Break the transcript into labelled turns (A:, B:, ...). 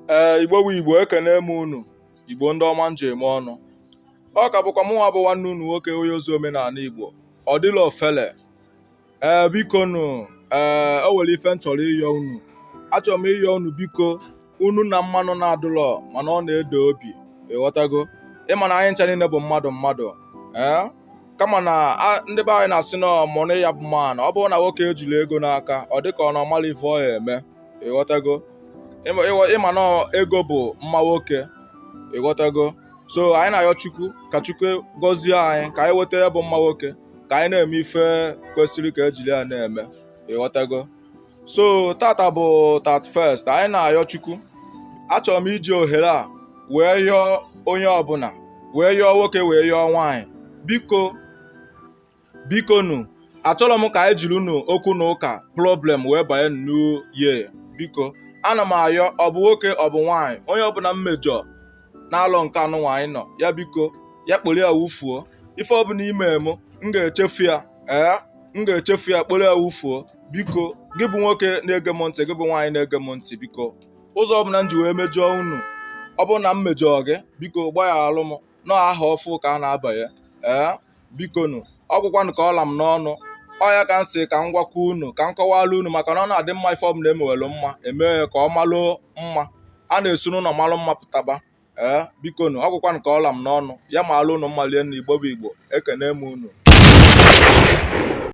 A: ee igbo bụ igbo ekene m unu igbo ndị ọma m ji eme ọnụ ọ ka bụkwa mụnwa bụ nwanne unu nwoke onye ozi omenala igbo ọ dịrọ ofele ee biko nụ ee o nwere ife m chọrọ ịyọ unu achọrọ m ịyọ unu biko unu na mmanụ na-adụlọ mana ọ na-ede obi ịghọtago ịma na anyị ncha niile bụ mmadụ mmadụ ee kama na ndị be anyị na-asị na money ya bụ man ọ bụrụ na nwoke ejirọ ego n'aka ọ dịka na ọ marọ ife ọ ya eme ịghọtago ịma na ego bụ mma nwoke ịghọtago so anyị na-ayọ chukwu ka chukwu gọzie anyị ka anyị nweta ya bụ mma nwoke ka anyị na-eme ife kwesịrị ka ejiri ya na-eme ịghọtago so tata bụ 31st anyị na-ayọ chukwu achọrọ m iji ohere a wee yọọ onye ọbụla wee yọọ nwoke wee yọọ nwaanyị biko biko nu achọrọ m ka anyị jiri unu okwu na ụka problem wee banye new year biko ana m ayọ ọ bụ nwoke ọ bụ nwaanyị onye ọbụla m mejọ n'arọ nke anụnwa anyị nọ ya biko ya kporo ya wufuo ife ọbụla i me m m ga-echefu ya ee m ga-echefu ya kporo ya wufuo biko gị bụ nwoke na-ege m ntị gị bụ nwaanyị na-ege m ntị biko ụzọ ọbụla m ji wee mejọọ unu ọ bụrụ na m mejọọ gị biko gbaghalụ m na ahọ ọfụụ ka a na-abanye ee biko nụ ọ gwụkwanụ ka ọ ra m n'ọnụ ọ ya ka m sị ka m gwakwa unu ka m kọwala unu maka na ọ na-adị mma ife ọbụla emewelu mma emee ya ka ọ malụ mma a na-esi n'ụlọ malụ mma pụtaba ee eh, biko nu ọ gwụkwanụ ka ọ ra m n'ọnụ ya malụ unu mma rinne igbo bụ igbo ekene m unu